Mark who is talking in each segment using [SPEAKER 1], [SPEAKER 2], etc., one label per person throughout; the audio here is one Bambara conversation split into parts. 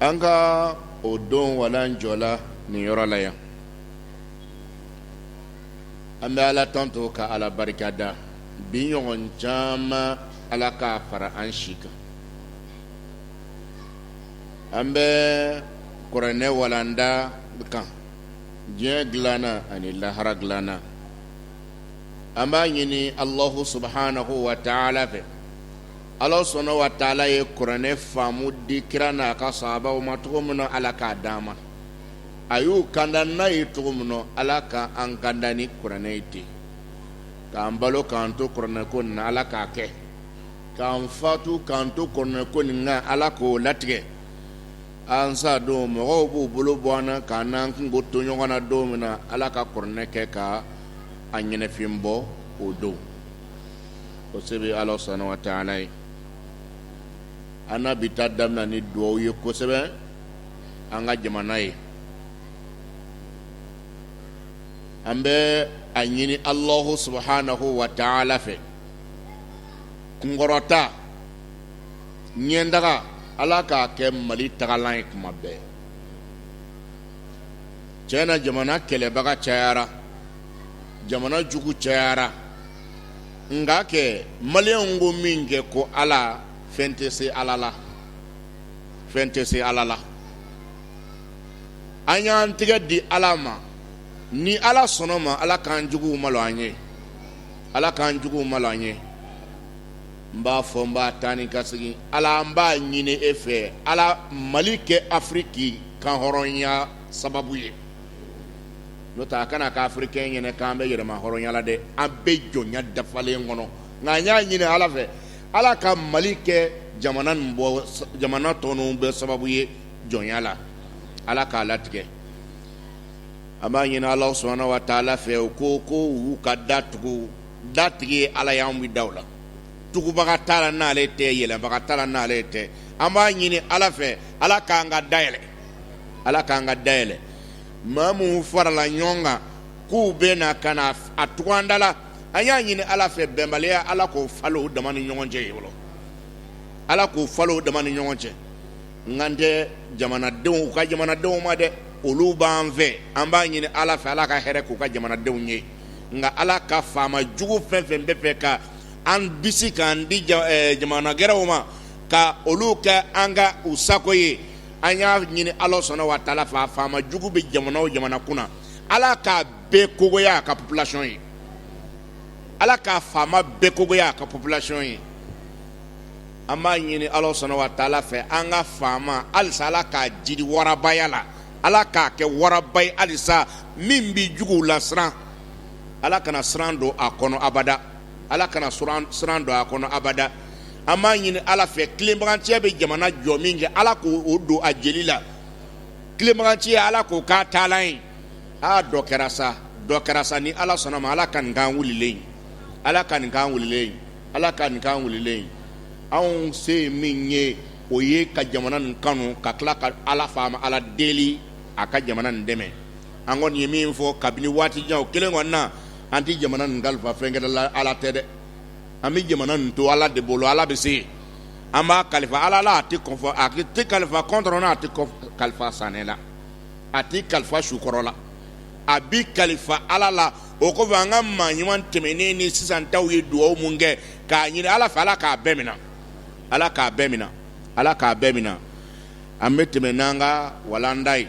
[SPEAKER 1] an ka o don walan jɔla nin yɔrɔ la yan an bɛ ala tando ka ala barika da bi ɲɔgɔn caman ala k'a fara an si kan an bɛ kuranɛ walanda kan diɲɛ dilana ani lahara dilana an b'a ɲini allahu subhanahu wa ta'ala fɛ ala subhanahu wa ta'ala ye kuranɛ faamu di kira n'a ka saabaw ma cogo min na ala k'a d'an ma a y'u kanda n'a ye cogo min na ala ka an kanda ni kuranɛ ye ten k'an balo k'an to kuranɛ ko na ala k'a kɛ k'an fatu k'an to kuranɛ ko nin kan ala k'o latigɛ an sa don mɔgɔw b'u bolo bɔ an na k'an n'an kunko to ɲɔgɔn na don min na ala ka kuranɛ kɛ ka a ɲɛnɛfin bɔ o don o se bɛ ala subhanahu wa ta'ala ye an na bi ta daminɛ ni dugaw ye kosɛbɛ an ka jamana ye an bɛ a ɲini allahu subhanahu wa ta'ala fɛ kunkɔrɔta ɲɛtaga ala k'a kɛ mali tagalan ye kuma bɛɛ tiɲɛ na jamana kɛlɛbaga cayara jamana jugu cayara nka kɛ maliyɛnw ko min kɛ ko ala fɛn tɛ se ala la fɛn tɛ se ala la an y'an tɛgɛ di ala ma ni ala sɔnna ma ala k'an jugu malo an ye ala k'an juguw malo an ye n b'a fɔ n b'a taa ni ka segin ala n b'a ɲini e fɛ ala mali kɛ afiriki kanhɔrɔnya sababu ye n'o tɛ a kana kɛ afirikɛn ɲɛna k'an bɛ yɛrɛmahɔrɔnya la dɛ an bɛ jɔnya dafalen kɔnɔ nka an y'a ɲini ala fɛ ala ka mali kɛ jamana bɔ jamana tɔw bɛɛ sababu ye jɔnya la ala k'a latigɛ an b'a ɲini ala subhanahu wa ta'ala fɛ u ko ko u ka da tugu datigi ala y'an bɛ da la tugubaga t'a la n'ale tɛ yɛlɛbaga t'a la n'ale tɛ an b'a ɲini ala fɛ ala k'an ka day ala k'an ka da yɛlɛ maa minnu farala ɲɔgɔn kan k'u bɛ na ka na a tugu an da la an y'a ɲini ala fɛ bɛnbaliya ala k'o falen u dama ni ɲɔgɔn cɛ fɔlɔ ala k'o falen u dama ni ɲɔgɔn cɛ n kan tɛ jamanadenw u ka jamanadenw ma dɛ olu b'an fɛ an b'a ɲini ala fɛ ala ka hɛrɛ k'u ka jamanadenw ye nka ala ka faama jugu fɛn fɛn b'a fɛ ka an bisi k'an di eh, jamana gɛrɛw ma ka olu kɛ an ka u sago ye an y'a ɲini ala subhana wa taala fɛ a faama jugu bɛ jamana o jamana kunna ala k'a bɛɛ kogoya a ka populasiyɔn ye ala k'a faama bɛɛ kogoya a ka populasiyɔn ye an b'a ɲini ala subhana wa taala fɛ an ka faama halisa ala k'a jiri warabaya la ala k'a kɛ waraba ye halisa min bɛ juguw lasiran ala kana siran don a kɔnɔ abada ala kana siran don a kɔnɔ abada an b'a ɲini ala fɛ tilebaganciya bɛ jamana jɔ min kɛ ala k'o don a jeli la tilebaganciya ala k'o k'a taalan ye aa dɔ kɛra sa dɔ kɛra sa ni ala sɔnn'a ma ala ka nin k'an wulilen ye ala ka nin k'an wulilen ye ala ka nin k'an wulilen ye anw se ye min ye o ye ka jamana nin kanu ka tila ka ala faama ala deli a ka jamana nin dɛmɛ an kɔni ye min fɔ kabini waati jan o kelen kɔni na an tɛ jamana nin kalifa fɛnkɛ la ala tɛ dɛ an bɛ jamana nin to ala de bolo ala bɛ se an b'a kalifa ala la a tɛ kalifa kɔntɔrɔn na a tɛ kalifa sanɛ la a tɛ kalifa su kɔrɔ la a bɛ kalifa ala la o kɔfɛ an ka maa ɲuman tɛmɛnen ni sisan taw ye dugawu minnu kɛ k'a ɲini ala fɛ ala k'a bɛɛ minɛ ala k'a bɛɛ minɛ ala k'a bɛɛ minɛ an bɛ tɛmɛ n'an ka walanda ye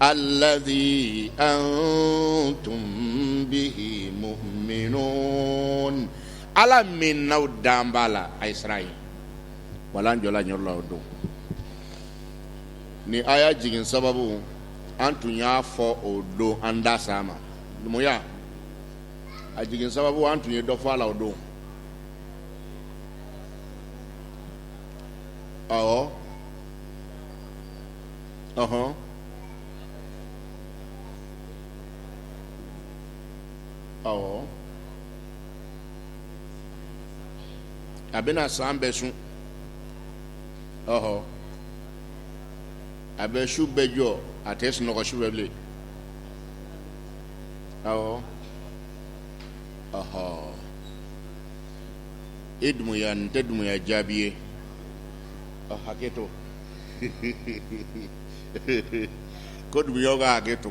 [SPEAKER 1] alladhi antum bihi muminun ala min n' aw dan b'a la a ye siran a ye walan jɔla yɔrɔ la o don nin aya jigin sababu an tun y'a fɔ o don an da s'a ma dumuya a jigin sababu an tun ye dɔ fɔ a la o don awɔ Ɔhɔn awɔ a bɛna san bɛɛ sun ɔhɔ a bɛ su bɛɛ jɔ a tɛ sunɔgɔ su bɛɛ bilen awɔ ɔhɔ e dumuya nin tɛ dumuya jaabi ye ɔ hakɛ to ko dumuyaw ka hakɛ to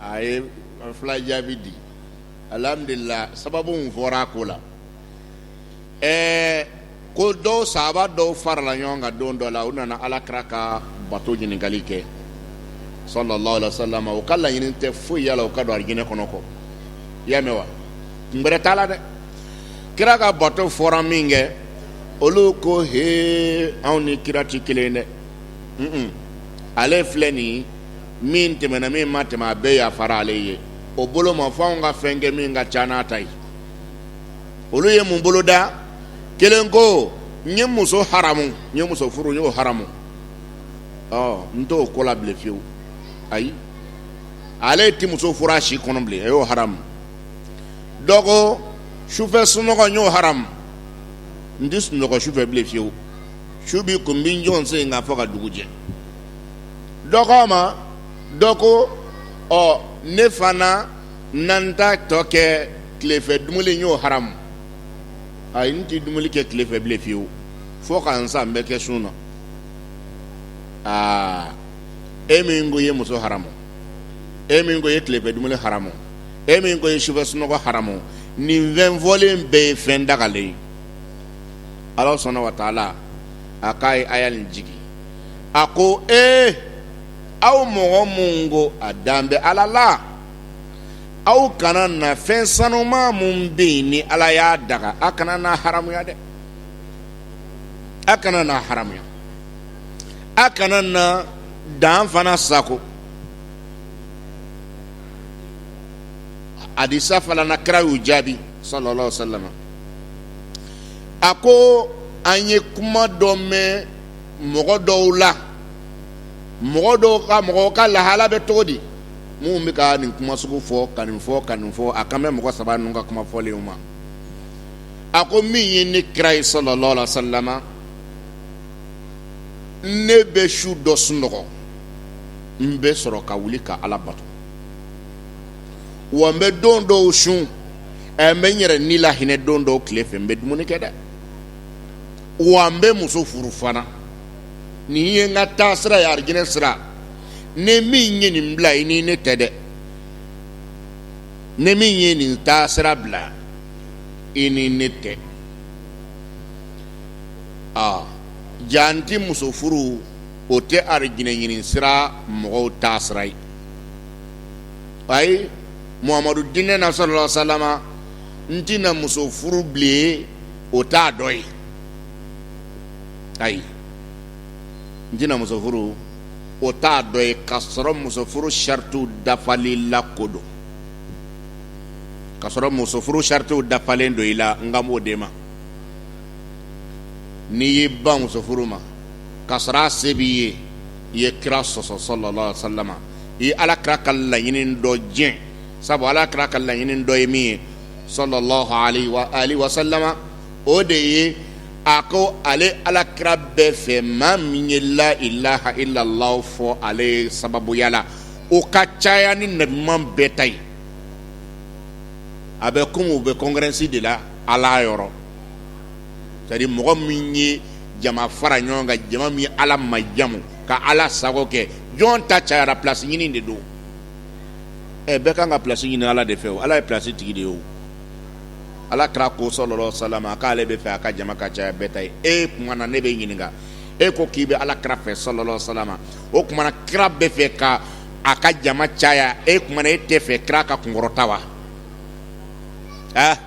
[SPEAKER 1] a ye fila jaabi di alihamudulila sababu min fɔra a ko la ɛɛ ko dɔw sahaba dɔw farala ɲɔgɔn kan don dɔ la u nana alakira ka bato ɲininkali kɛ sallallahu alaihi wa sallam u ka laɲini tɛ foyi y'a la u ka don alijinɛ kɔnɔ kɔ i y'a mɛn wa kun bɛrɛ t'a la dɛ kira ka bato fɔra min kɛ olu ko he anw ni kira tɛ kelen dɛ ale filɛ nin min tɛmɛna min ma tɛmɛ a bɛɛ yafara ale ye o bolo ma fo anw ka fɛn kɛ min ka ca n'a ta ye olu ye mun bolo da kelen ko n ye muso haramu n ye muso furu n y'o haramu ɔ n t'o ko la bilen fiyewu ayi ale tɛ muso furu a si kɔnɔ bilen a y'o haramu dɔ ko sufɛ sunɔgɔ n y'o haramu n tɛ sunɔgɔ sufɛ bilen fiyewu su bɛ ko n bɛ n jɔ n sen kan fo ka dugu jɛ dɔ ko ma dɔ ko ɔ ne fana na n ta tɔ kɛ tilefɛ dumuni n y'o haramu ayi n tɛ dumuni kɛ tilefɛ bilen fiyewu fo ka n san bɛɛ kɛ sun na aa e min ko i ye muso haramu e min ko i ye tilefɛ dumuni haramu e min ko i ye sufɛ sunɔgɔ haramu nin fɛn fɔlen bɛɛ ye fɛn dagalen ye ala subhanahu wa taala a k'a ye aya nin jigi a ko ee aw mɔgɔ minnu ko a dan bɛ ala la aw kana na fɛn sanuman minnu bɛ yen ni ala y'a daga a kana n'a haramuya dɛ a kana n'a haramuya a kana na dan fana sagon hadisi fana na kira y'u jaabi sallallahu alaihi wasallam a ko an ye kuma dɔ mɛn mɔgɔ dɔw la mɔgɔ dɔw ka mɔgɔw ka lahala bɛ cogo di minnu bɛ ka nin kuma sugu fɔ ka nin fɔ ka nin fɔ a kan bɛ mɔgɔ saba ninnu ka kuma fɔlenw ma a ko min ye ne kira ye sallallahu alaihi wasallam ne bɛ su dɔ sunɔgɔ n bɛ sɔrɔ ka wuli ka ala bato wa n bɛ don dɔw sun ɛ n bɛ n yɛrɛ ni lahinɛ don dɔw tile fɛ n bɛ dumuni kɛ dɛ wa n bɛ muso furu fana nin ye n ka taa sira ye arijinɛ sira n'e min ye nin bila i ni ne tɛ dɛ n'e min ye nin taa sira bila i ni ne tɛ aa jaa n ti muso furu o tɛ arijinɛ ɲini sira mɔgɔw taa sira ye ayi Muhamadu diinɛ na sallallahu alaihi wasallam n tɛna muso furu bilen o t'a dɔ ye ayi n tɛna muso furu o t'a dɔ ye k'a sɔrɔ muso furu saritiw dafali la ko don k'a sɔrɔ muso furu saritiw dafalen don i la n kan b'o de ma n'i y'i ban muso furu ma k'a sɔrɔ a se b'i ye i ye kira sɔsɔ sallallahu alaihi wasallam i ye ala kira ka laɲini dɔ tiɲɛ sabu ala kira ka laɲini dɔ ye min ye sallallahu alaihi wasallam o de ye a ko ale ala kira b'a fɛ maa min ye la ilaha illallah fɔ ale sababuya la o ka caya ni nabiɲuman bɛɛ ta ye a bɛ komi u bɛ kɔnkurɛnsi de la ala yɔrɔ sɛtadiri mɔgɔ min ye jama fara ɲɔgɔn kan jama min ala majamu ka ala sago kɛ jɔn ta cayara plasi ɲini de don ɛ bɛɛ kan ka plasi ɲini ala de fɛ o ala ye plasi tigi de ye o ala kira ko sallallahu alaihi wasallam k'ale bɛ fɛ a ka jama ka caya bɛɛ ta ye e kuma na ne bɛ ɲininka e ko k'i bɛ ala kira fɛ sallallahu alaihi wasallam o kuma na kira bɛ fɛ ka a ka jama caya e kuma na e tɛ fɛ kira ka kunkɔrɔta wa ɛ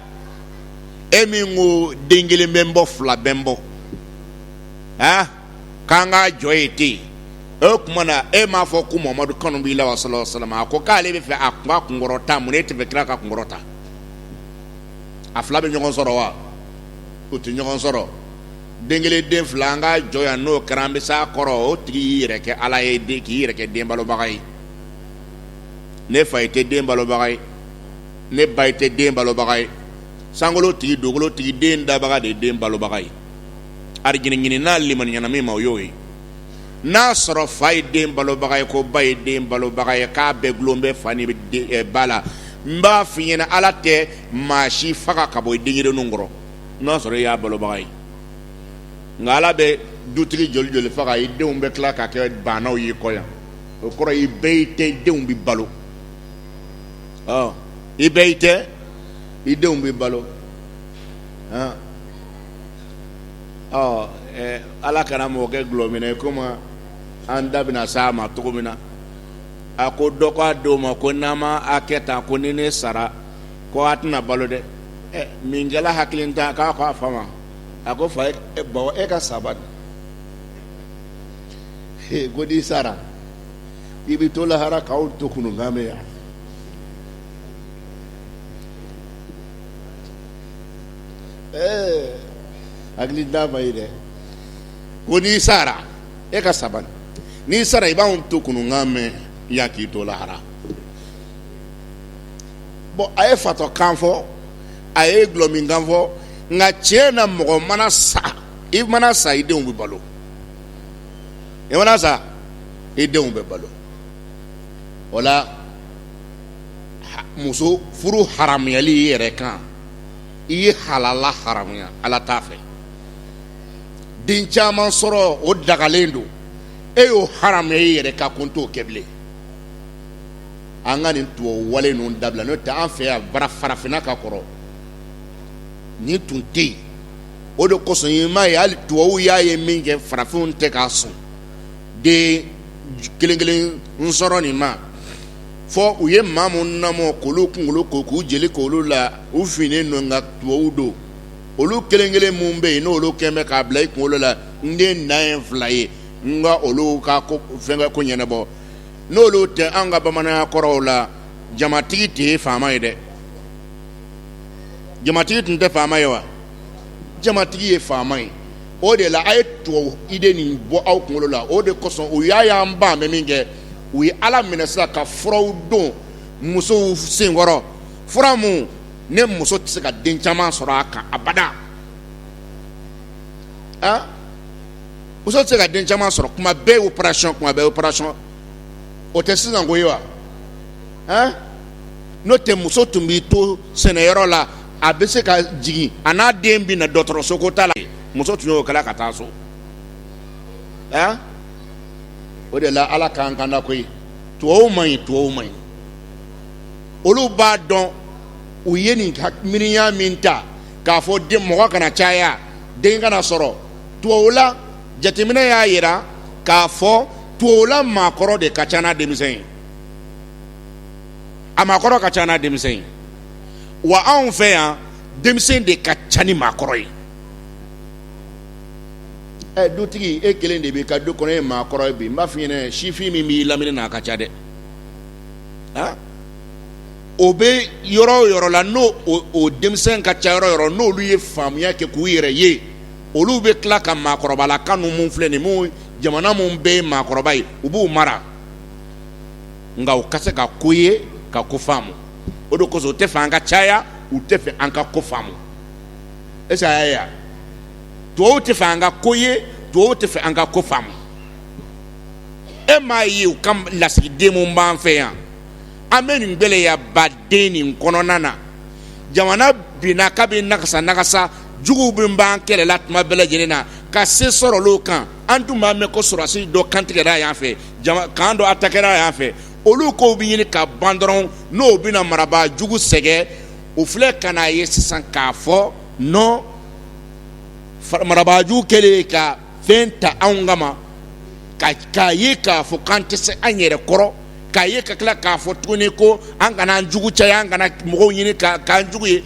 [SPEAKER 1] e min ko den kelen bɛ n bɔ fila bɛ n bɔ a k'an ka jɔ yen ten o tuma na e m'a fɔ ko mahamadu kanu b'i la wa sallallahu alaihi wasallam a ko k'ale bɛ fɛ a kun ka kunkɔrɔta mun na e tɛ fɛ kira ka kunkɔrɔta a fila bɛ ɲɔgɔn sɔrɔ wa o tɛ ɲɔgɔn sɔrɔ den kelen den fila an ka jɔ yan n'o kɛra an bɛ s'a kɔrɔ o tigi y'i yɛrɛ kɛ ala ye k'i yɛrɛ kɛ den balobaga ye ne fa i tɛ den balobaga ye ne ba i tɛ den balobaga ye sankolo tigi dugukolo tigi den dabaga de ye den balobaga ye arijɛgɛ ɲini n'a limaniana min ma o y'o ye n'a sɔrɔ fa ye den balobaga ye ko ba ye den balobaga ye k'a bɛɛ gulon bɛ fa ni eh, ba la n b'a f'i ɲɛna ala tɛ maa si faga ka bɔ i denɲɛrɛninw kɔrɔ n'a sɔrɔ i y'a balobaga ye nka ala bɛ dutigi joli joli faga i denw bɛ tila ka kɛ baanaw y'i kɔ yan o kɔrɔ i bɛ i tɛ i denw bɛ balo ɔ i bɛ i tɛ i denw bɛ balo hɔn ɔ ɛɛ ala kana mɔgɔ kɛ gulɔminna ye komi an da bɛna s'a ma cogo min na a ko dɔ k'a denw ma ko n'aw ma a kɛ tan ko ni ne sara ko a tɛna balo dɛ ɛ min kɛla hakilintan k'a ko a fa ma a ko fa e bawo e ka sa bani ko n'i sara i bɛ to lahara k'anw to kununkan mɛn yan ɛɛ hakili d'a ma ye dɛ ko n'i sara e ka sa bani n'i sara i b'anw to kununkan mɛn yan k'i to lahara bɔn a ye fatɔ kan fɔ a ye gulɔmin kan fɔ nka tiɲɛ na mɔgɔ mana sa i mana sa i denw bɛ balo i mana sa i denw bɛ balo o la muso furu haramuyali i yɛrɛ kan i ye halala haramuya ala t'a fɛ den caman sɔrɔ o dagalen don e y'o haramuya i yɛrɛ kan ko n t'o kɛ bilen an ka nin tubabu wale ninnu dabila n'o tɛ an fɛ yan bara farafinna ka kɔrɔ nin tun tɛ yen o de kosɔn i m'a ye hali tubabuw y'a ye min kɛ farafinw tɛ ka sɔn den kelen kelen n sɔrɔ nin ma fo u ye maa minnu namɔ k'olu kunkolo ko k'u jeli k'olu la u finnen don nka tubabuw don olu kelen kelen minnu bɛ yen n'olu kɛlen bɛ k'a bila i kunkolo la n den dan ye fila ye n ka olu ka fɛnkɛ ko ɲɛnabɔ n'olu tɛ an ka bamananya kɔrɔw la jamatigi de ye faama ye dɛ jamatigi tun tɛ faama ye wa jamatigi ye faama ye o de la a ye tubabu idée nin bɔ aw kunkolo la o de kosɔn u y'a y'an b'a mɛn min kɛ u y'a daminɛ sisan ka furaw don musow senkɔrɔ fura minnu ni muso tɛ se ka den caman sɔrɔ a kan abada a muso tɛ se ka den caman sɔrɔ kuma bɛɛ opération kuma bɛɛ opération o tɛ sisan ko ye wa n'o tɛ muso tun b'i to sɛnɛyɔrɔ la a bɛ se ka jigin a n'a den bɛ na dɔgɔtɔrɔso ko t'a la muso tun y'o kɛla ka taa so o de la ala k'an kanda koyi tubabuw man ɲi tubabuw man ɲi olu b'a dɔn u ye nin miiriya min ta k'a fɔ den mɔgɔ kana caya den kana sɔrɔ tubabula jateminɛ y'a jira k'a fɔ tubabula maakɔrɔ de ka ca n'a denmisɛn ye a maakɔrɔ ka ca n'a denmisɛn ye wa anw fɛ yan denmisɛn de ka ca ni maakɔrɔ ye ɛ dutigi e kelen de b'i ka du kɔnɔ ye maakɔrɔ ye bi n b'a f'i ɲɛna sifin min b'i lamini na a ka ca dɛ ah o bɛ yɔrɔ o yɔrɔ la n'o o denmisɛn ka ca yɔrɔ o yɔrɔ n'olu ye faamuya kɛ k'u yɛrɛ ye olu bɛ tila ka maakɔrɔbala kan ninnu filɛ nin mun jamana mun bɛɛ ye maakɔrɔba ye u b'u mara nka u ka se ka ko ye ka ko faamu o de kosɔn u tɛ fɛ an ka caya u tɛ fɛ an ka ko faamu est-ce a y'a ye wa tubabuw tɛ fɛ an ka ko ye tubabuw tɛ fɛ an ka ko faamu e m'a ye u ka lasigiden minnu b'an fɛ yan an bɛ nin gɛlɛyaba de nin kɔnɔna na jamana binna k'a bɛɛ nagasi nagasi juguw bɛɛ b'an kɛlɛla tuma bɛɛ lajɛlen na ka se sɔrɔ olu kan an tun b'a mɛn ko sɔrɔdasi dɔ kantigɛra yan fɛ kan dɔ atakera yan fɛ olu kow bɛ ɲini ka ban dɔrɔn n'o bɛna marabaa jugu sɛgɛn o filɛ ka n'a ye sisan k'a fɔ nɔ marabaa jugu kɛlen ka fɛn ta anw kama k'a ye k'a fɔ k'an tɛ se an yɛrɛ kɔrɔ k'a ye ka tila k'a fɔ tuguni ko an kana an jugu caya an kana mɔgɔw ɲini k'an jugu ye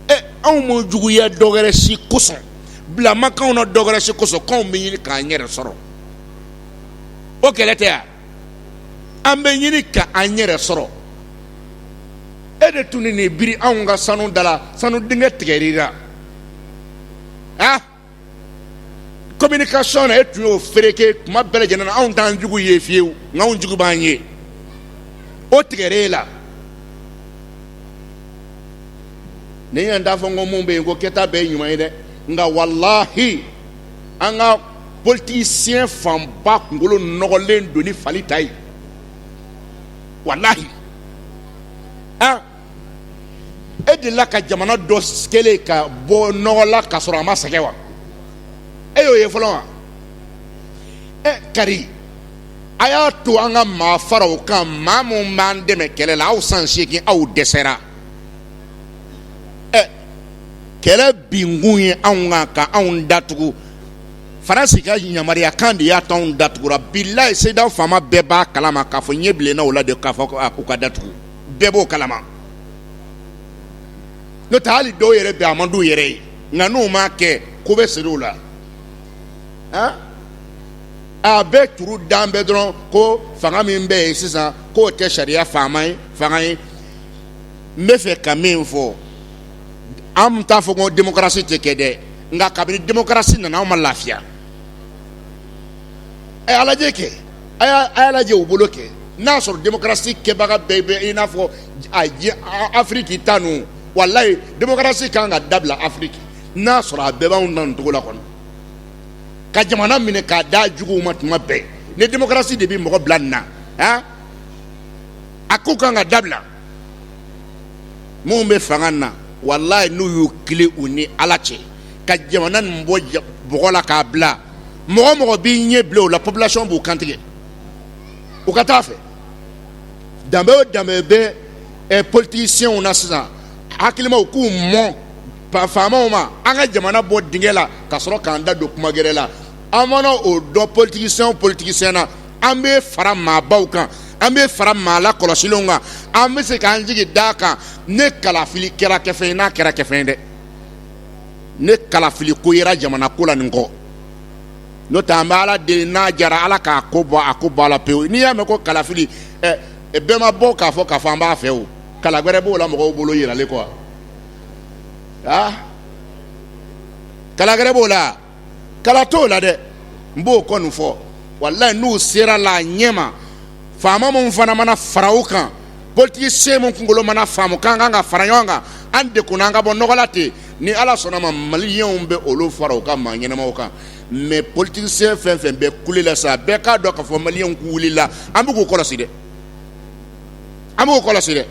[SPEAKER 1] ɛ anw ma juguya dɔ wɛrɛ si kosɔn bila ma k'anw na dɔ wɛrɛ si kosɔn k'anw bɛ ɲini k'an yɛrɛ sɔrɔ o kɛlɛ tɛ yan an bɛ ɲini ka an yɛrɛ sɔrɔ e de tun nin biri anw ka sanu da la sanu dingɛ tigɛr'i la a kominikasiyɔn na e tun y'o fereke tuma bɛɛ lajɛlen na anw t'an jugu ye fiyewu nka anw jugu b'an ye o tigɛra e la ne y' an t'a fɔ ko minnu bɛ yen ko kɛta bɛɛ ye ɲuman ye dɛ nka walahi an ka politisiyɛn fanba kunkolo nɔgɔlen don ni fali ta ye walayi e delila ka jamana dɔ kelen ye ka bɔ nɔgɔ la ka sɔrɔ a ma sɛgɛn wa e y'o ye fɔlɔ wa e kari a y'a to an ka maa fara o kan maa minnu b'an dɛmɛ kɛlɛ la aw san seegin aw dɛsɛra kɛlɛ binkun ye anw kan ka anw datugu faransi ka yamaruya kan de y'a to anw datugura bilayi sedeyawo faama bɛɛ b'a kalama k'a fɔ ɲɛ bilenna u la de k'a fɔ k'u ka datugu bɛɛ b'o kalama n'o tɛ hali dɔw yɛrɛ bɛ a man d'u yɛrɛ ye nka n'u m'a kɛ ko bɛ siri u la a bɛ turu dan bɛɛ dɔrɔn ko fanga min bɛ yen sisan k'o tɛ sariya faa fanga ye n bɛ fɛ ka min fɔ an t'a fɔ ko demokarasi tɛ kɛ dɛ nka kabini demokarasi nana an ma lafiya a lajɛ kɛ a y'a lajɛ u bolo kɛ n'a sɔrɔ demokarasi kɛbaga bɛɛ bɛ i n'a fɔ afiriki ta ninnu walayi demokarasi kan ka dabila afiriki n'a sɔrɔ a bɛɛ b'an ta nin cogo la kɔnɔ ka jamana minɛ k'a da jugu ma tuma bɛɛ ni demokarasi de bɛ mɔgɔ bila nin na a ko ka kan ka dabila minnu bɛ fanga na walayi n'u y'u kali u ni ala cɛ ka jamana nin bɔ bɔgɔ la k'a bila mɔgɔ o mɔgɔ b'i ɲɛ bila o la popilasiyɔn b'u kantigɛ u ka taa fɛ danbe o danbe bɛ politisiyɛnw na sisan hakilimaw k'u mɔn faamaw ma an ka jamana bɔ dingɛ la ka sɔrɔ k'an da don kuma gɛrɛ la an mana o dɔn politisiyɛn politisiyɛn na an bɛ fara maabaw kan an bɛ fara maa lakɔlɔsilenw kan an bɛ se k'an jigi d'a kan ni kalafili kɛra kɛfɛn ye n'a kɛra kɛfɛn ye dɛ ni kalafili ko yera jamana ko la nin kɔ n'o t'an bɛ ala deli n'a jara ala k'a ko bɔ a ko bɔ a la pewu n'i y'a mɛn ko kalafili bɛɛ ma bɔ k'a fɔ k'a fɔ an b'a fɛ o kala wɛrɛ b'o la mɔgɔw bolo yiralen kɔ kala wɛrɛ b'o la kala t'o la dɛ n b'o kɔni fɔ walayi n'u sera la a ɲɛ ma faama min fana mana fara u kan politikisen min kunkolo mana faamu k'an kan ka fara ɲɔgɔn kan an de kunna an ka bɔ nɔgɔ la ten ni ala sɔnna ma maliyɛnw bɛ olu fara u ka maa ɲɛnamaw kan mɛ politikisen fɛn fɛn bɛ kule la sa bɛɛ k'a dɔn k'a fɔ maliyɛnw k'u wulila an bɛ k'u kɔlɔsi dɛ an b'u kɔlɔsi dɛ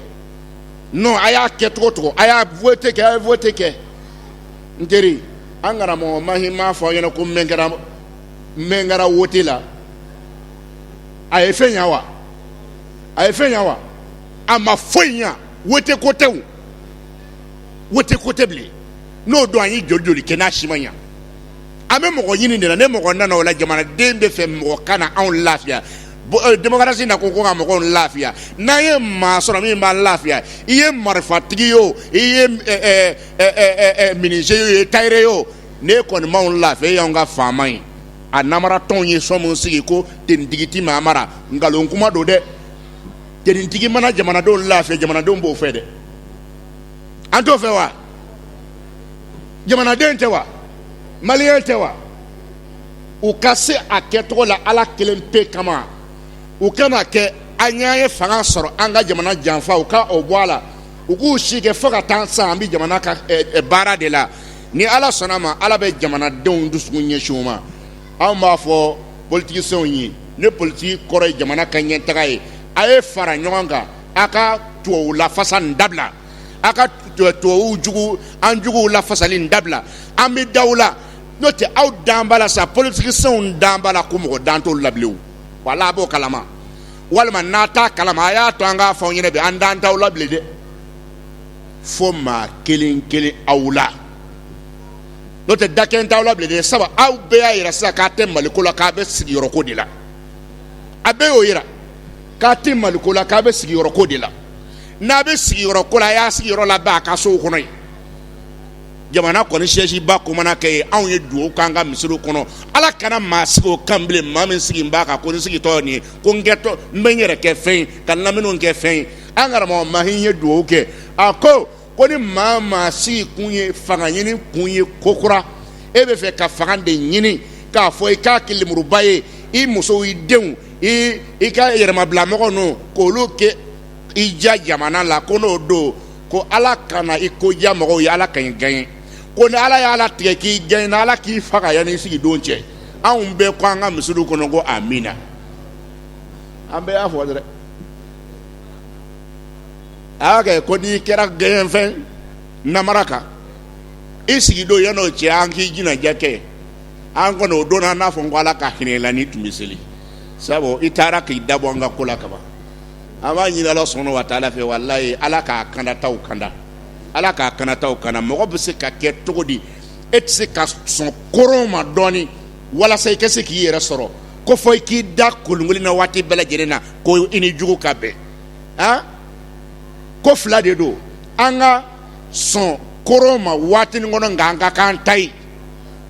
[SPEAKER 1] nɔn a y'a kɛ cogo cogo a ye wote kɛ a ye wote kɛ n teri an karamɔgɔ mahi m'a fɔ a ɲɛna ko mɛn kɛra mɛn kɛra wote la a ye fɛn ɲa wa a ye fɛn ɲa wa a ma foyi ɲa wote ko tɛ o wote ko tɛ bilen n'o don an ye joli joli kɛ n'a si ma ɲa an bɛ mɔgɔ ɲini de la ni mɔgɔ nana o la jamanaden b'a fɛ mɔgɔ ka na anw lafiya demokarasi na ko ko ka mɔgɔw lafiya n'an ye maa sɔrɔ min b'an lafiya i ye marifatigi ye o i ye minize ye o i ye tayɛri ye o n'e kɔni m'anw lafiya e y'an ka faama ye a namaratɔw ye so min sigi ko tenitigi ti maa mara nkalon kuma don dɛ tenitigi mana jamanadenw lafiya jamanadenw b'o fɛ dɛ an t'o fɛ wa jamanaden tɛ wa maliyɛn tɛ wa u ka se a kɛcogo la ala kelen pe kama u kan'a kɛ an ye fanga sɔrɔ an ka jamana janfa u ka o bɔ a la u k'u si kɛ fo ka taa sa an bɛ jamana ka eh, eh, baara de la ni ala sɔnna ma ala bɛ jamanadenw dusukun ɲɛsin u ma anw b'a fɔ politikisenw ye ni politiki kɔrɔ ye jamana ka ɲɛtaga ye a ye fara ɲɔgɔn kan a ka tubabu lafasa nin dabila a ka tubabu jugu an juguw lafasali nin dabila an bɛ d'aw la n'o tɛ aw dan b'a la sa politikisenw dan b'a la ko mɔgɔ dan t'olu la bilen wala a b'o kalama walima n'a t'a kalama a y'a to an k'a fɔ aw ɲɛna bi an dan t'aw la bilen dɛ fo maa kelen kelen aw la n'o tɛ da kelen t'aw la bilen dɛ sabu aw bɛɛ y'a yira sisan k'a tɛ maliko la k'a bɛ sigiyɔrɔko de la a bɛɛ y'o yira k'a tɛ maliko la k'a bɛ sigiyɔrɔko de la n'a bɛ sigiyɔrɔko la a y'a sigiyɔrɔ labɛn a ka sow kɔnɔ yen jamana kɔni sɛsiba ko mana kɛ ye anw ye dugawu k'an ka misiriw kɔnɔ ala kana maa sigi o kan bilen maa min sigi b'a kan ko n sigitɔ nin ye ko n kɛtɔ n bɛ n yɛrɛ kɛ fɛn ye ka n lamini kɛ fɛn ye an karamɔgɔ mahi ye dugawu kɛ a ko ko ni maa maa sigi kun ye fanga ɲini kun ye ko kura e bɛ fɛ ka fanga de ɲini k'a fɔ i k'a kɛ lemuruba ye i musow i denw i i ka yɛrɛmabilamɔgɔ ninnu k'olu kɛ i ja jamana la ko n'o don ko ala kana i ko diya mɔgɔw ye ala kan'i gaɲe ko ni ala y'a latigɛ k'i gaɲena ala k'i faga yanni i sigi don cɛ anw bɛɛ ko an ka misiriw kɔnɔ ko amiina an bɛɛ y'a fɔ dɛ a y'a kɛ ko n'i kɛra gaɲe fɛn namara kan i sigi don yann'o cɛ an k'i jinaja kɛ an kɔni o don an n'a fɔ ko ala ka hinɛ i la n'i tun bɛ seli sabu i taara k'i dabɔ an ka ko la kaban an b'a ɲini ala subuhana wa taala fɛ walayi ala ka kandataw kanda ala ka kandataw kanda mɔgɔ bɛ se ka kɛ cogo di e tɛ se ka sɔn koron ma dɔɔnin walasa i ka se k'i yɛrɛ sɔrɔ ko fɔ i k'i da kolonkolon na waati bɛɛ lajɛlen na ko i ni jugu ka bɛn a ko fila de don an ka sɔn koron ma waati nin kɔnɔ nka an ka k'an ta ye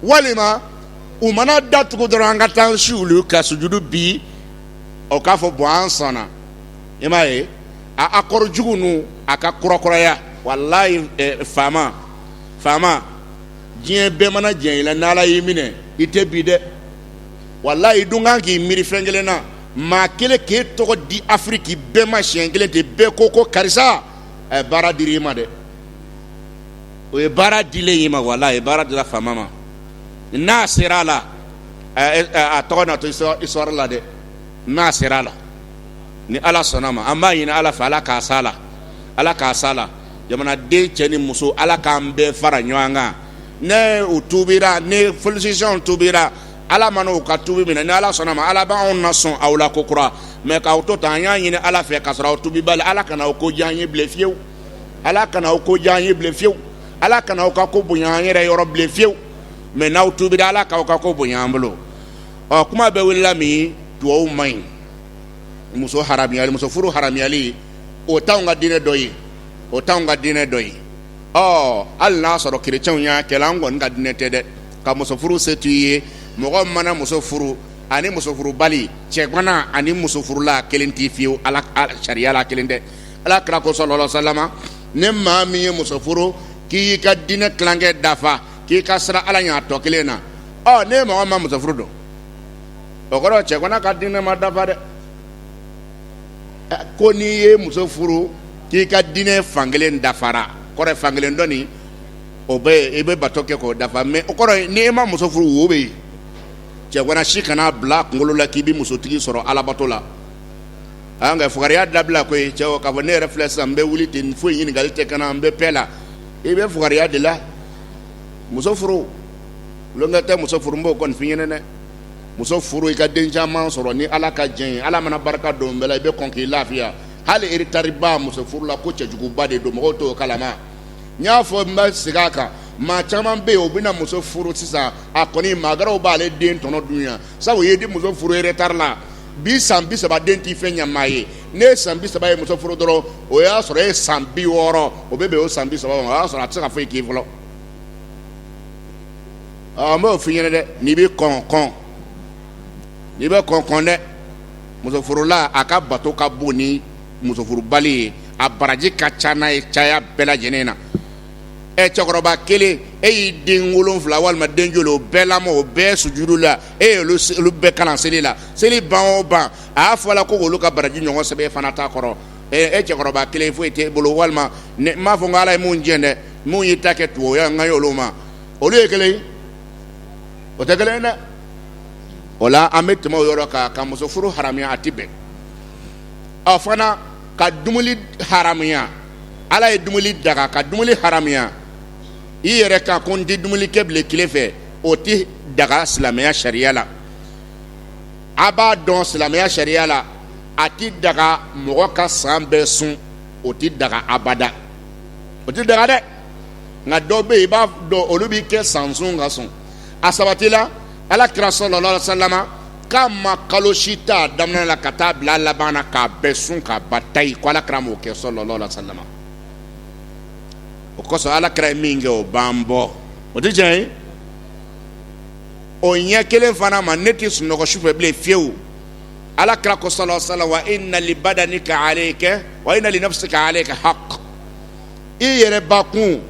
[SPEAKER 1] walima u mana da tugu dɔrɔn an ka taa si olu ka sujudu bi o k'a fɔ bɔn an sɔnna i m'a ye akɔri jugu ninnu a ka kurakuraya walayi faama faama diɲɛ bɛɛ mana diɲɛ i la n'ala y'i minɛ i tɛ bin dɛ walayi i dun kan k'i miiri fɛn kelen na maa kelen k'e tɔgɔ di afiriki bɛɛ ma siɲɛ kelen ten bɛɛ ko ko karisa a ye baara dir'i ma dɛ o ye baara dilen i ma walayi baara dira faama ma n'a sera a la a tɔgɔ na to isituwari la dɛ n'a sera a la ni ala sɔnna ma an b'a ɲini ala fɛ ala k'a s'a la ala k'a s'a la jamanaden cɛ ni muso ala k'an bɛɛ fara ɲɔgɔn kan ni u tubira ni politisiyɛn tubira ala mana u ka tubi minɛ ni ala sɔnna ma ala b'anw na sɔn aw la ko kura mɛ k'aw to tan an y'a ɲini ala fɛ ka sɔrɔ aw tubibali ala kana aw ko diya an ye bilen fiyewu ala kana aw ko diya an ye bilen fiyewu ala kana aw ka ko bonya an yɛrɛ yɔrɔ bilen fiyewu mɛ n'aw tubira ala k'aw ka ko bonya an bolo ɔ kuma bɛɛ wulila min dugawu man ɲi muso haramuyali muso furu haramuyali o t'anw ka diinɛ dɔ ye o t'anw ka diinɛ dɔ ye ɔ hali n'a sɔrɔ kerecɛnw y'a kɛ an kɔni ka diinɛ tɛ dɛ ka muso furu se t'u ye mɔgɔ mana muso furu ani muso furubali cɛgana ani muso furula kelen tɛ fiyewu ala sariya la kelen tɛ ala kira ko sɔlɔlɔ salama ni maa min ye muso furu k'i y'i ka diinɛ tilankɛ dafa k'i ka siran ala ɲɛ a tɔ kelen na ɔ ni mɔgɔ ma muso furu don o kɔrɔ cɛgana ka diinɛ ma dafa dɛ ko n'i ye muso furu k'i ka diinɛ fankelen dafara kɔrɔ fankelen dɔ nin o bɛ yen i bɛ bato kɛ k'o dafa mɛ o kɔrɔ n'i ma muso furu wo bɛ yen cɛgana si kana bila kunkolo la k'i bɛ musotigi sɔrɔ alabato la an ka fugariya dabila koyi cɛw k'a fɔ ne yɛrɛ filɛ sisan n bɛ wuli ten foyi ɲininkali tɛ ka na n bɛ pɛ la i bɛ fugariya de la muso furu kɛ tɛ muso furu n b'o kɔni f'i ɲɛna dɛ muso furu i ka den caman sɔrɔ ni ala ka diɲɛ ye ala mana barika don bɛɛ la i bɛ kɔn k'i lafiya hali eretariba muso furu la ko cɛjuguba de don mɔgɔw t'o kalama n y'a fɔ n bɛ segin a kan maa caman bɛ yen o bɛna muso furu sisan a kɔni maa wɛrɛw b'ale den tɔnɔ dun yan sabu o ye di muso furu eretari la bi san bi saba den tɛ fɛn ɲama ye n'e ye san bi saba ye muso furu dɔrɔn o y'a sɔrɔ e ye san bi wɔɔrɔ o bɛ bɛn o san bi saba o y'a sɔrɔ a tɛ se ka foyi k'i fɔlɔ n b'o f'i ɲɛna dɛ n'i bɛ kɔn kɔn n'i bɛ kɔn kɔn dɛ muso furula a ka bato ka bon ni muso furubali ye a baraji ka ca n'a ye caya bɛɛ lajɛlen na ɛ cɛkɔrɔba kelen e y'i den wolonwula walima den joli o bɛɛ lamɔ o bɛɛ sujudu la e ye olu bɛɛ kalan seli la seli ban o ban a y'a fɔ la ko olu ka baraji ɲɔgɔn sɛbɛn fana ta kɔrɔ e cɛkɔrɔba kelen foyi t'e bolo walima n m'a fɔ ko ala ye min jɛ dɛ min y'i ta kɛ tugu ye n kan ye olu ma olu ye kelen o tɛ kelen dɛ o la an bɛ tɛmɛ o yɔrɔ kan ka muso furu haramuya a tɛ bɛn ɔ fana ka dumuni haramuya ala ye dumuni daga ka dumuni haramuya i yɛrɛ kan ko n tɛ dumuni kɛ bilen tile fɛ o tɛ daga silamɛya sariya la a b'a dɔn silamɛya sariya la a tɛ daga mɔgɔ ka san bɛɛ sun o tɛ daga abada o tɛ daga dɛ nka dɔw bɛ yen i b'a dɔn olu b'i kɛ san sun ka sɔrɔ a sabatila ala kira sallallahu alaihi wasallam k'a ma kalo si t'a daminɛ la ka taa bila laban na k'a bɛɛ sun k'a ba ta ye ko ala kira m'o kɛ sallallahu alaihi wasallam o kosɔn ala kira ye min kɛ o b'an bɔ o tɛ tiɲɛ ye o ɲɛ kelen fana ma ne tɛ sunɔgɔ sufɛ bilen fiyewu ala kira ko sallallahu alaihi wasallam wa inna li badanika alayka wa inna li nafsika alayka haqq i yɛrɛbakun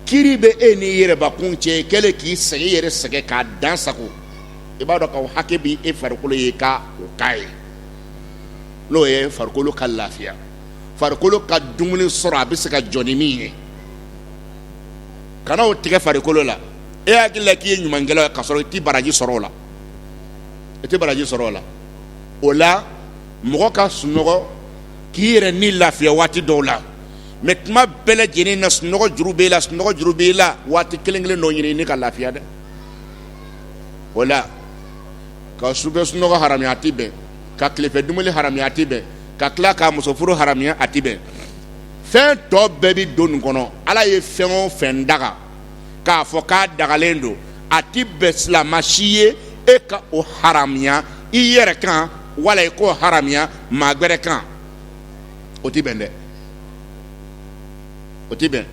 [SPEAKER 1] kiri bɛ e ni yɛrɛbakun cɛ i kɛlen k'i sɛgɛn i yɛrɛ sɛgɛn k'a dan sagon i b'a dɔn k'o hakɛ b'e farikolo ye ka o k'a ye n'o ye farikolo ka lafiya farikolo ka dumuni sɔrɔ a bɛ se ka jɔ ni min ye kana o tigɛ farikolo la e hakili la k'i ye ɲumankɛla ye ka sɔrɔ i tɛ baraji sɔrɔ o la i tɛ baraji sɔrɔ o la o la mɔgɔ ka sunɔgɔ k'i yɛrɛ ni lafiya waati dɔw la mɛ tuma bɛɛ lajɛlen na sunɔgɔ juru b'i la sunɔgɔ juru b'i la waati kelen kelen dɔ ɲini ni ka lafiya dɛ o la ka sufɛ sunɔgɔ haramuya a tɛ bɛn ka tilefɛ dumuni haramuya a tɛ bɛn ka tila ka muso furu haramuya a tɛ bɛn fɛn tɔ bɛɛ bɛ don nin kɔnɔ ala ye fɛn o fɛn daga k'a fɔ k'a dagalen don a tɛ bɛn silamɛ si ye e ka o haramuya i yɛrɛ kan wala i k'o haramuya maa wɛrɛ kan o tɛ bɛn dɛ o tɛ bɛn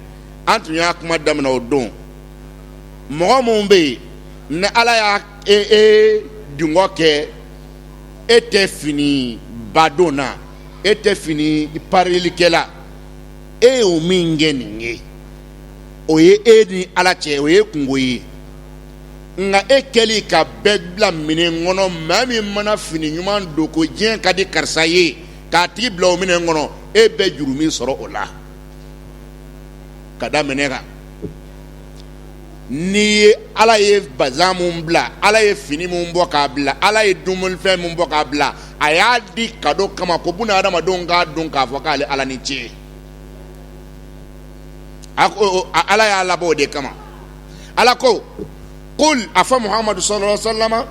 [SPEAKER 1] an tun y'a kuma daminɛ o don mɔgɔ minnu bɛ yen ni ala y'a e e dungɔ kɛ e tɛ finiba donna e tɛ fini parilikɛla e ye o min kɛ nin ye o ye e ni ala cɛ o ye kungo ye nka e kɛlen ka bɛɛ bila minɛn kɔnɔ maa min mana fini ɲuman don ko diɲɛ ka di karisa ye k'a tigi bila o minɛn kɔnɔ e bɛ juru min sɔrɔ o la ka da minɛ kan n'i ye ala ye bazan min bila ala ye fini min bɔ k'a bila ala ye dumunifɛn min bɔ k'a bila a y'a di ka don kama ko buna hadamadenw k'a don k'a fɔ k'ale ala ni ce a ala y'a labɔ o de kama ala ko qul a fɔ muhamadu sallallahu alaihi wasallam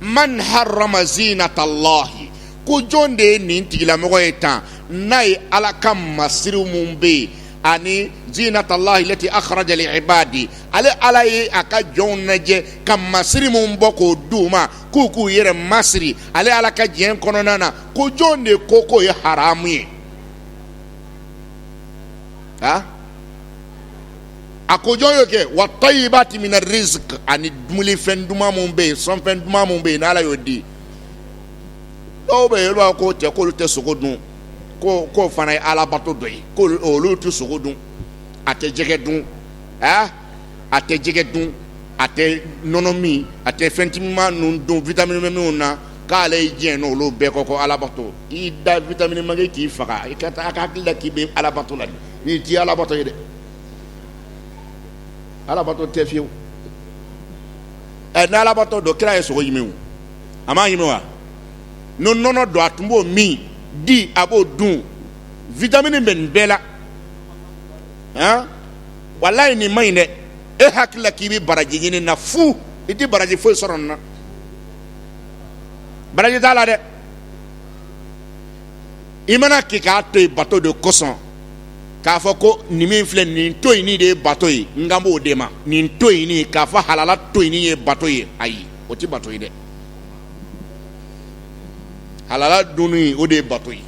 [SPEAKER 1] man harama zinatallahi ko jɔn de ye nin tigilamɔgɔ ye tan n'a ye ala ka masiriw minnu bɛ yen ani zinatallahi lati akhraja li ibadi ale ala ye a ka jɔnw lajɛ ka masiri minnu bɔ k'o di u ma k'u k'u yɛrɛ masiri ale ala ka diɲɛ kɔnɔna na ko jɔn de ko k'o ye haramu ye ha a ko jɔn y'o kɛ wa tayyibati mina rizq ani dumulifɛn duman minnu bɛ yen sɔnfɛn duman minnu bɛ yen n'ala y'o di dɔw bɛ yen olu b'a fɔ ko cɛ k'olu tɛ sogo dun fana ye alabato dɔ ye ko olu tɛ sogo dun a tɛ jɛgɛ dun a a tɛ jɛgɛ dun a tɛ nɔnɔ min a tɛ fɛn timiman ninnu dun vitamini minnu na k'ale ye diɲɛ n'olu bɛɛ kɔ ko alabato i da vitamini manke k'i faga i ka taa hakili la k'i bɛ alabato la nin tɛ alabato ye dɛ alabato tɛ fiyewu ɛ ni alabato don kira ye sogo ɲimi wa a m'a ɲimi wa ni nɔnɔ don a tun b'o min di a b'o dun vitamini bɛ nin bɛɛ la a walayi nin man ɲi dɛ e hakili la k'i bɛ baraji ɲini na fu i tɛ baraji foyi sɔrɔ nin na baraji t'a la dɛ i mana k'i k'a to yen bato de kosɔn k'a fɔ ko nin min filɛ nin to yen nin de ye bato ye n kan b'o de ma nin to yen nin k'a fɔ halala to yen nin ye bato ye ayi o tɛ bato ye dɛ halala dun o de ye bato ye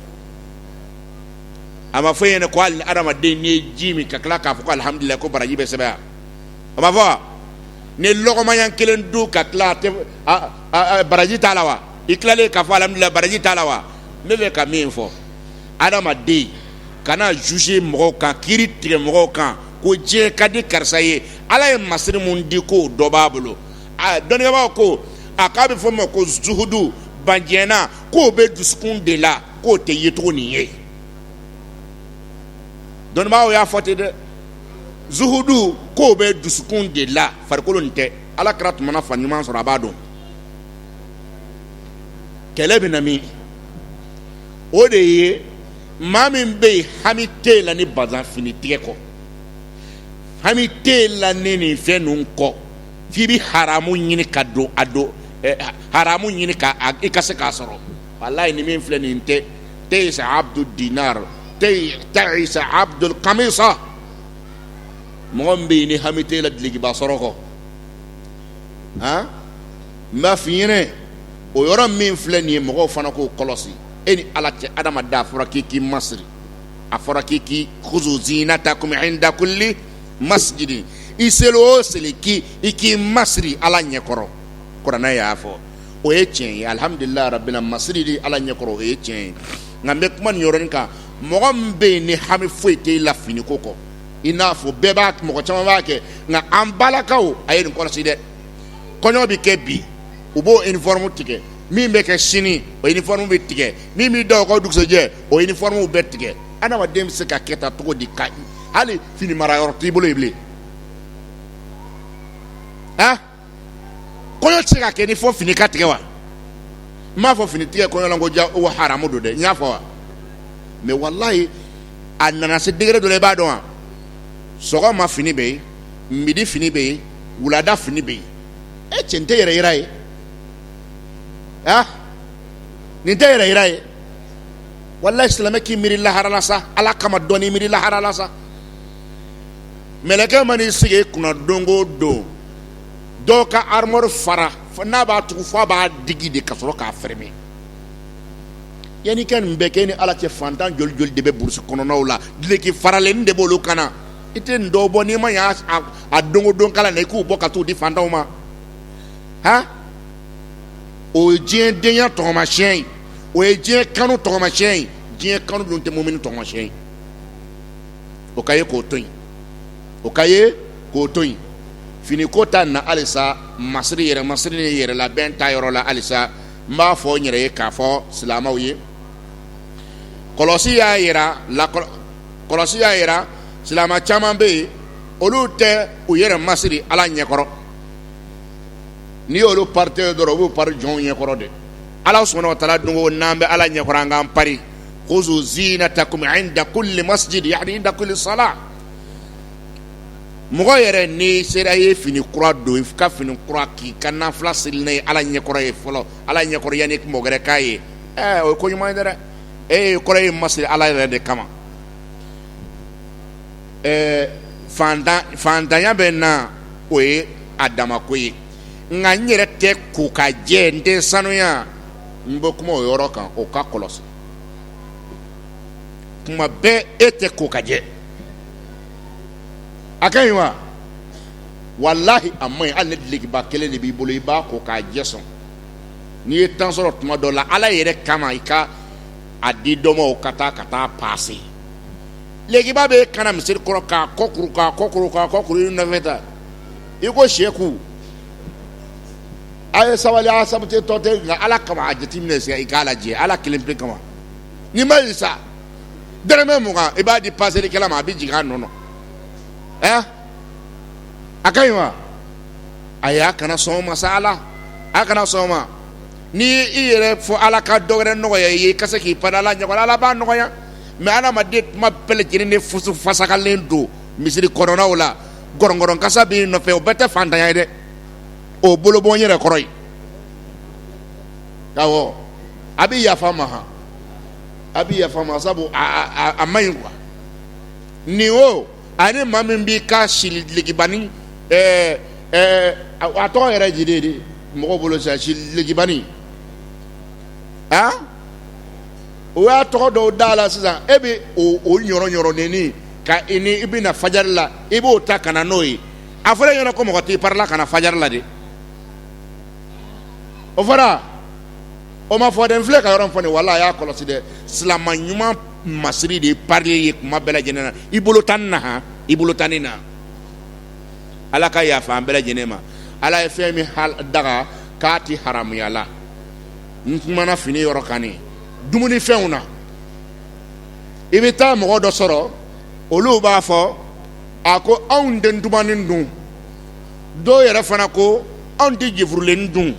[SPEAKER 1] a ma f'i ɲɛna ko hali adamaden n'i ye ji min ka tila k'a fɔ ko alihamudulila ko baraji bɛ sɛbɛn a ma fɔ ni lɔgɔmaya kelen dun ka tila baraji t'a la wa i tilalen k'a fɔ alihamudulila baraji t'a la wa ne bɛ fɛ ka min fɔ adamaden kana juger mɔgɔw kan kiiri tigɛ mɔgɔw kan ko diɲɛ ka di karisa ye ala ye masiri mun di k'o dɔ b'a bolo a dɔnnibagaw ko a k'a bɛ fɔ o ma ko zuhudu ban diɲɛ na k'o bɛ dusukun de la k'o tɛ yecogo nin ye dɔnnibagaw y'a fɔ ten dɛ zuhudu k'o bɛ dusukun de la farikolo nin tɛ ala kira tun mana fani ɲuman sɔrɔ a b'a don kɛlɛ bɛ na min o de ye maa min bɛ yen hami tɛ i la ni bazan fini tigɛ kɔ hami tɛ i la ni nin fɛn ninnu kɔ f'i bɛ haramu ɲini ka don a don haramu ɲini k'i ka se k'a sɔrɔ walayi nin min filɛ nin tɛ teyisa abdu dinar teyisa abdul kamisa mɔgɔ min bɛ yen ni hami tɛ i la dulokiba sɔrɔ kɔ a n b'a f'i ɲɛna o yɔrɔ min filɛ nin ye mɔgɔw fana k'o kɔlɔsi e ni ala cɛ adamaden a fɔra k'i k'i masiri a fɔra k'i k'i khuzu zinatakum inda kulli masjidin i seli o seli k'i i k'i masiri ala ɲɛkɔrɔ kuranɛ y'a fɔ o ye tiɲɛ ye alihamudulilayi rabbil masiri di ala ɲɛkɔrɔ o ye tiɲɛ ye nka n bɛ kuma nin yɔrɔnin kan mɔgɔ min bɛ yen ni hami foyi tɛ i la finiko kɔ i n'a fɔ bɛɛ b'a mɔgɔ caman b'a kɛ nka an balakaw a ye nin kɔlɔsi dɛ kɔɲɔ bɛ kɛ bi u b'o uniforme tigɛ min bɛ kɛ sini o uniforme bɛ tigɛ min bɛ da o ka dugusɛjɛ o uniforme bɛ tigɛ adamaden bɛ se ka kɛ tan cogo di ka hali fini mara yɔrɔ t'i bolo yen bilen a kɔɲɔ tɛ se ka kɛ ni fɔ fini ka tigɛ wa n m'a fɔ fini tigɛ kɔɲɔ la ko ja o haramu don dɛ n y'a fɔ wa mais walayi a nana se degré dɔ la i b'a dɔn wa sɔgɔma fini bɛ yen midi fini bɛ yen wulada fini bɛ yen e cɛ nin tɛ yɛrɛ yira ye a nin tɛ yɛrɛ yira ye walayi silamɛ k'i miiri lahara la sa ala kama dɔɔni miiri lahara la sa mɛlɛkɛ man'i sigi kunna don o don dɔw ka armoire fara n'a b'a tugu fo a b'a digi de ka sɔrɔ k'a fermer yanni i ka nin bɛɛ kɛ ni ala cɛ fantan joli joli de bɛ burusi kɔnɔnaw la duloki faralen de b'olu kan na i tɛ nin dɔw bɔ n'i ma ɲɛ a don o don kala na i k'u bɔ ka t'u di fantanw ma o ye diɲɛ denya tɔgɔmasiyɛn ye o ye diɲɛ kanu tɔgɔmasiyɛn ye diɲɛ kanu dun tɛ mumini tɔgɔmasiyɛn ye o ka ye k'o to yen o ka ye k'o to yen finiko ta na halisa masiri yɛrɛ masiri ni yɛrɛlabɛn ta yɔrɔ la halisa n b'a fɔ n yɛrɛ ye k'a fɔ silamɛw ye kɔlɔsi y'a yira la kɔlɔsi y'a yira silamɛ caman bɛ yen olu tɛ u yɛrɛ masiri ala ɲɛkɔrɔ n'i y'olu parilen dɔrɔn u b'u pari jɔnw ɲɛkɔrɔ de ala subhanahu wa ta'ala dun ko n'an bɛ ala ɲɛkɔrɔ an k'an pari khuzu zinatakum inda kulli masjid yani inda kulli salah mɔgɔ yɛrɛ n'i sera ye fini kura don i ka fini kura k'i ka nafila seli n'a ye ala ɲɛkɔrɔ ye fɔlɔ ala ɲɛkɔrɔ yanni mɔgɔ wɛrɛ k'a ye o ye ko ɲuman ye dɛ e ye kɔrɔ ye masiri ala yɛrɛ de kama ɛɛ fantan fantanya bɛ na o ye a damako ye nka n yɛrɛ tɛ ko ka jɛ n tɛ sanuya n bɛ kuma o yɔrɔ kan o ka kɔlɔsi kuma bɛɛ e tɛ ko ka jɛ a ka ɲi wa walahi a man ɲi hali ni dulokiba kelen de b'i bolo i b'a ko k'a jɛ sɔn n'i ye temps sɔrɔ tuma dɔ la ala yɛrɛ kama i ka a di dɔ ma o ka taa ka taa paase dulokiba b'i kan na misiri kɔrɔ k'a kɔ kuru k'a kɔ kɔrɔ k'a kɔ kuru i nɔfɛ ta i ko sɛku a ye sabali sabu tɔ tɛ nka ala kama a jateminɛ sisan i k'a lajɛ ala kelen pe kama n'i ma sa dɛrɛmɛ mugan i b'a di paaselikɛla ma a bɛ jigin a nɔ na a ka ɲi wa ayi a kana sɔn o ma sa ala a kana sɔn o ma ni i yɛrɛ fɔ ala ka dɔ wɛrɛ nɔgɔya i ye i ka se k'i pari ala ɲɛkɔrɔ ala b'a nɔgɔya mais adamaden kuma bɛɛ lajɛlen de fusu fasakalen don misiri kɔnɔnaw la gɔrɔngɔrɔn kasa b'i nɔfɛ o bɛɛ tɛ fantanya ye dɛ o bolo bɔ yɛrɛ kɔrɔ ye awɔ a bɛ yafa ma a bɛ yafa ma sabu a man ɲi quoi ni o ani maa min b'i ka silikibani a tɔgɔ yɛrɛ dilen de mɔgɔw bolo sa silikibani a o y'a tɔgɔ dɔw da la sisan e bɛ o ɲɔrɔɲɔrɔnin ka i ni i bɛ na fajari la i b'o ta ka na n'o ye a fɔra e ɲɛna ko mɔgɔ t'i parila ka na fajari la dɛ o fɔra o ma fɔ dɛ n filɛ ka yɔrɔ fɔ nin wala a y'a kɔlɔsi dɛ silama ɲuman masiri de ye pari ye kuma bɛɛ lajɛlen na i bolo tan ni na i bolo tan ni na ala ka yafa an bɛɛ lajɛlen ma ala ye fɛn min daga k'a tɛ haramuya la n kumana fini yɔrɔ kan nin dumunifɛnw na i bɛ taa mɔgɔ dɔ sɔrɔ olu b'a fɔ a ko anw tɛ ntumanin dun dɔw yɛrɛ fana ko anw tɛ jefurulen dun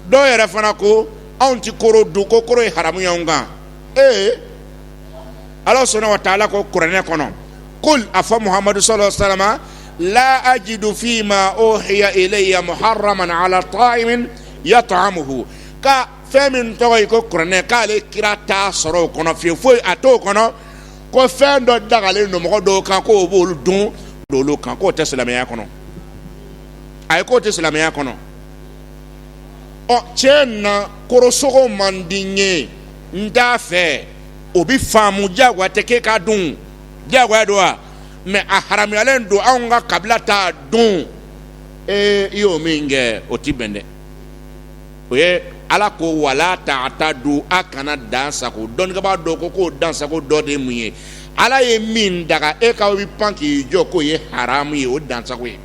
[SPEAKER 1] dɔw yɛrɛ fana ko anw tɛ koro dun ko koro ye haramu y'anw kan ee ala subhana wa taala ko kuranɛ kɔnɔ kul a fɔ muhamadu sallallahu alaihi wa sallam la ajidu fi ma uhiya ilayya muharraman ala ta'imin yat'amuhu ka fɛn min tɔgɔ ye ko kuranɛ k'ale kira t'a sɔrɔ o kɔnɔ fiyewu foyi a t'o kɔnɔ ko fɛn dɔ dagalen don mɔgɔ dɔw kan k'o b'olu dun olu kan k'o tɛ silamɛya kɔnɔ a ye k'o tɛ silamɛya kɔnɔ tiɲɛ na korosogo man di n ye n t'a fɛ o bi faamu diyagoya tɛ k'e k'a dun diyagoya don wa mɛ a haramuyalen don anw ka kabila t'a dun ee i y'o min kɛ o ti bɛn dɛ o ye ala ko wala ta'tadu a kana dan sago dɔnnikɛbaa dɔ ko k'o dan sago dɔ de ye mun ye ala ye min daga e ka i pan k'i jɔ k'o ye haramu ye o dan sago ye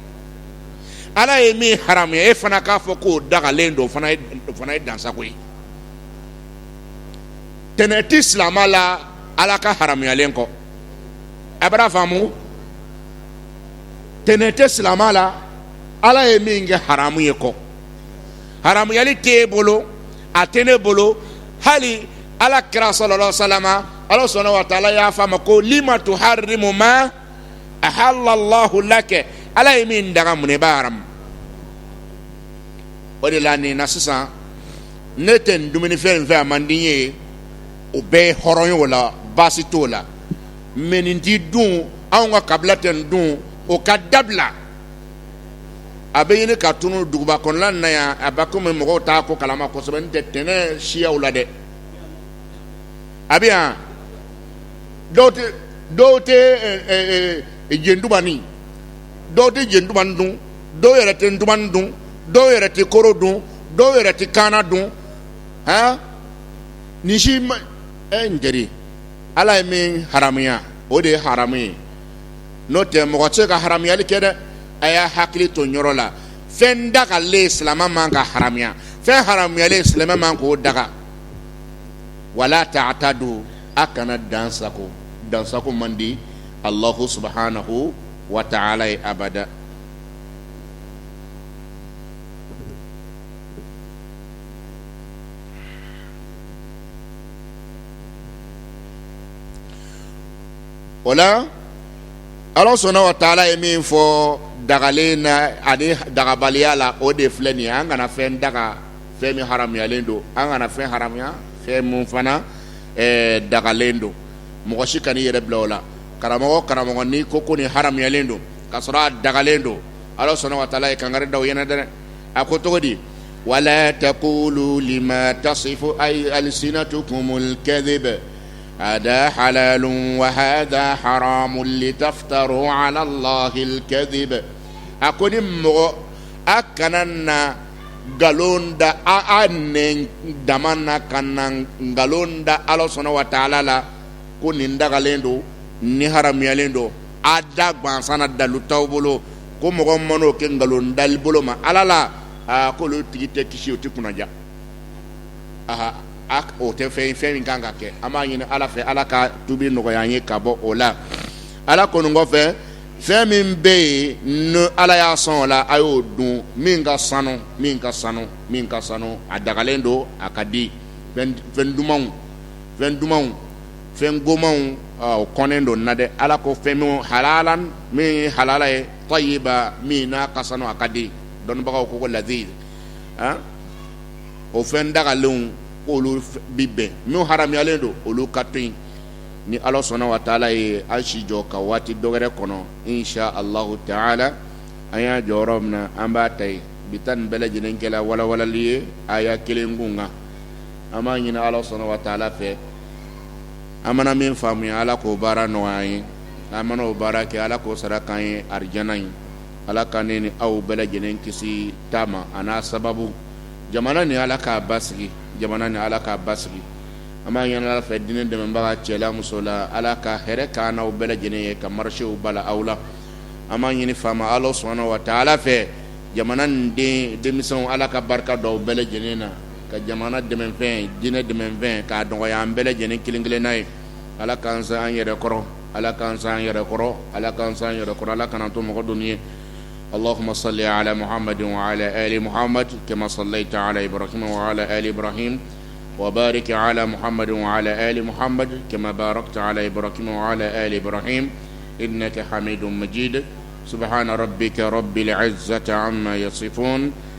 [SPEAKER 1] ala ye min haramuya e fana k'a fɔ k'o dagalen don o fana ye dan sago ye tɛnɛ ti silama la ala ka haramuyalen kɔ a bɛr'a faamu tɛnɛ tɛ silama la ala ye min kɛ haramu ye kɔ haramuyali tɛ e bolo a tɛ ne bolo hali ala kira sallallahu alaihi wa sallam ala subhana wa taala y'a fɔ a ma ko lima tuharimu ma ahalallahu laka ala ye min daga mun n'i b'a haramu o de la nin na sisan ne tɛ nin dumunifɛn in fɛ a man di n ye o bɛɛ ye hɔrɔn ye o la baasi t'o la mɛ nin ti dun anw ka kabila tɛ nin dun o ka dabila a bɛ ɲini ka tunu duguba kɔnɔla na yan a bɛ komi mɔgɔw t'a ko kalama kosɛbɛ ntɛ tɛnɛ siyaw la dɛ a bɛ yan dɔw tɛ dɔw tɛ jendubani dɔw tɛ jendubani dun dɔw yɛrɛ tɛ ntumanin dun dɔw yɛrɛ tɛ koro dun dɔw yɛrɛ tɛ kaana dun han nin si ma ɛ n teri ala ye min haramuya o de ye haramu ye n'o tɛ mɔgɔ tɛ se ka haramuyali kɛ dɛ a y'a hakili to yɔrɔ la fɛn dagalen silamɛ man ka haramuya fɛn haramuyalen silamɛ man k'o daga wala taatadu a kana dansagon dansagon man di alahu subhanahu wa taala ye abada o la ala subhana wa taala ye min fɔ dagalen na ani dagabaliya la o de filɛ nin ye an kana fɛn daga fɛn min haramuyalen don an kana fɛn haramuya fɛn min fana dagalen don mɔgɔ si kan'i yɛrɛ bila o la karamɔgɔ karamɔgɔ ni ko ko nin haramuyalen don ka sɔrɔ a dagalen don ala subhana wa taala ye kangari da o ɲɛna dɛ a ko cogo di wala taqulu lima tasifu ayi alsinatukumul kadiba hada halalu wa hada haramu litaftaru alallahil kadib a ko ni mɔgɔ a kana na nkalon da a nɛn dama na kana nkalon da ala subhana wa taala la ko nin dagalen don nin haramuyalen don a da gansan dalu t'aw bolo ko mɔgɔ man'o kɛ nkalon dali bolo ma ala la aa ko olu tigi tɛ kisi o tɛ kunnaja aa a o tɛ fɛn fɛn min kan ka kɛ an b'a ɲini ala fɛ ala ka tubi nɔgɔya an ye ka bɔ o la ala ko nin kɔfɛ fɛn min bɛ yen n'ala y'aw sɔn o la a y'o dun min ka sanu min ka sanu min ka sanu a dagalen don a ka di fɛn dumanw fɛn dumanw fɛn gomanw o kɔnnen don an na dɛ ala ko fɛn min halalan min halala ye tayiba min n'a ka sanu a ka di dɔnnibagaw ko ko laziz o fɛn dagalenw olu bi bɛn min haramuyalen don olu ka to yen ni ala subhana wa taala ye an si jɔ ka waati dɔ wɛrɛ kɔnɔ insha alahu taala an y'a jɔ yɔrɔ min na an b'a ta yen bi ta nin bɛɛ lajɛlen kɛla walawalali ye aya kelen kun kan an b'a ɲini ala subhana wa taala fɛ an mana min faamuya ala k'o baara nɔgɔya an ye an mana o baara kɛ ala k'o sara k'an ye arijana ye ala ka ne ni aw bɛɛ lajɛlen kisi ta ma a n'a sababu jamana nin ala k'a basigi jamana nin ala k'a basigi an b'a ɲini ala fɛ diinɛ dɛmɛbaga cɛ la muso la ala ka hɛrɛ k'an n'aw bɛɛ lajɛlen ye ka marisiw bala aw la an b'a ɲini faama ala subhana wa taala fɛ jamana nin denmisɛnw ala ka barika don u bɛɛ lajɛlen na ka jamana dɛmɛfɛn jinɛinɛ dɛmɛfɛn ka dɔgɔya an bɛɛ lajɛlen kelen kelenna ye ala kansan an yɛrɛ kɔrɔ ala kansan an yɛrɛ kɔrɔ ala kansan yɛrɛ kɔrɔ ala kana to mɔgɔ don ye ala ma sa ala mahamadenw ma kɛmɛ sala ta ala ibrahimahima wari kɛ ala muhamadenw ma kɛmɛbaara ta ala ibrahima ibrahim i bɛna kɛ hami don maji de sabu hra bɛ kɛ yɔrɔ bɛzte an na yafafɔ